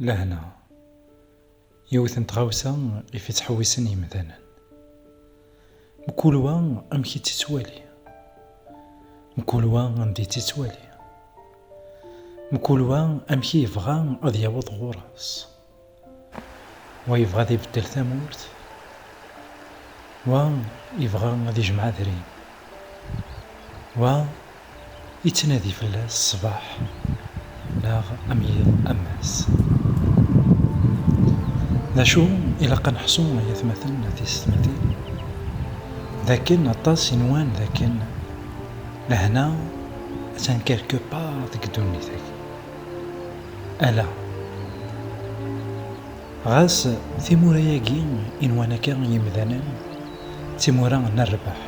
Lehna, yiwet n tɣawsa i t-ittḥewwisen yemdanen. Mkul wa amek i tt-ittwali. Mkul wa anda i tt-ittwali. Mkul wa amek i yebɣa ad yaweḍ ɣur-s. Wa yebɣa ad ibeddel tamurt. Wa yebɣa ad ijmeɛ adrim. Wa Yettnadi fell-as ṣṣbeḥ neɣ am yiḍ am ass. D acu ilaq ad neḥṣu ay atmaten a tisetmatin? D akken aṭas i nwan d akken lehna attan quelque part deg ddunit-agi. Ala. Ɣas timura-agi i nwan akka yimdanen d timura n rrbeḥ,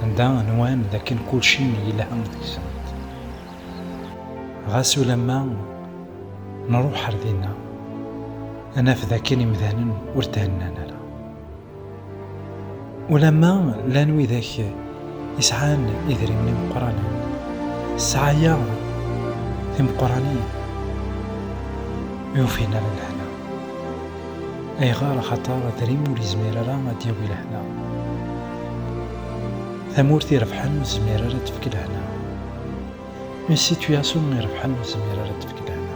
anda nwan d akken kulci yelha deg-sent, ɣas ulamma nruḥ ar dinna ad naf d akken imdanen ur thennan ara. Ulamma llan widak yesɛan idrimen imeqqranen, ssɛaya timeqqranin, yufin ara lehna. Ayɣer? Axaṭer adrim ur yezmir ara ad d-yawi lehna. Tamurt irebḥen ur tezmir ara ad tefk lehna. Une situation irebḥen ur tezmir ara ad tefk lehna.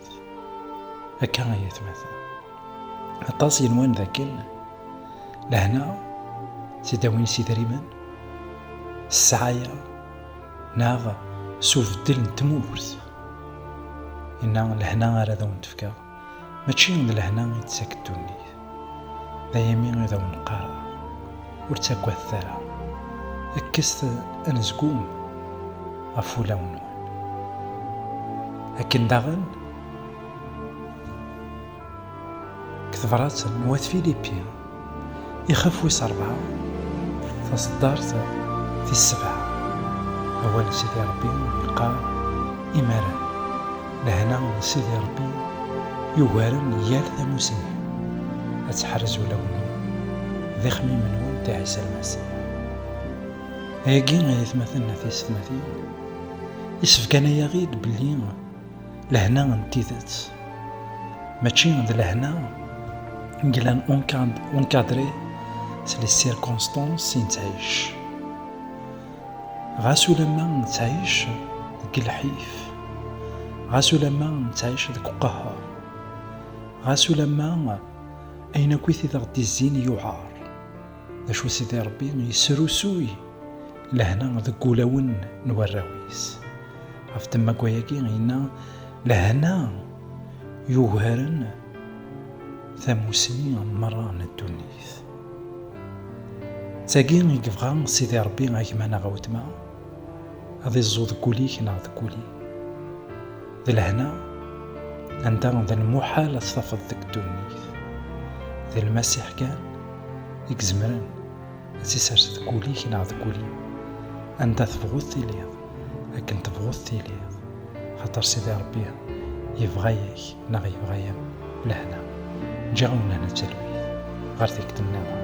akka ay atmata aṭas yenwan dakken lehna tidawin s idrimen ssɛaya neɣ s ubeddel n tmurt inna lehna ara d awen-d-fkeɣ mačči d lehna i d-ttak ddunit d ayami i d awen-qqareɣ, ur ttaggadet ara, kkset anezgum ɣef wulawen-nwen. Akken daɣen, deg tebṛat n wat Filipi, ixef wis ṛebɛa, taṣeddart tis sebɛa, awal n Sidi Ṛebbi yeqqar, Imara. Lehna n Sidi Ṛebbi yugaren yal tamussni. Ad tḥerrez ulawen-nwen d ixemmimen-nwen di Ɛisa Lmasiḥ. Ayagi ay atmaten tisetmatin, yessefkanayaɣ-id belli lehna n tidet mačči d lehna n glan encadré s les circonstances i nettɛic. ɣas ulamma nettɛic deg lḥif ɣas ulamma nettɛic deg uqehhar ɣas ulamma ayen akk i t-id ɣ-d-izzin yuɛar d acu sidi rebbi yesrusuy lehna deg ulawen n warraw-is ɣef temmagwayagi yenna lehna yugaren tamusni merra n ddunit d tagi i yebɣa Sidi Ṛebbi a gma neɣ a wetma, ad iẓẓu deg wul-ik neɣ deg wul-i. D lehna anda d lmuḥal ad tafeḍ deg ddunit. D lmasiḥ kan i izemren ad tt-isers deg wul-ik neɣ deg wul-iw, anda tebɣuḍ tiliḍ. akken tebɣuḍ tili xaṭer sidi rebbi yebɣa-yak neɣ yebɣa-yam lehna ǧǧiɣ lehna d talwit ɣer tikti nniḍen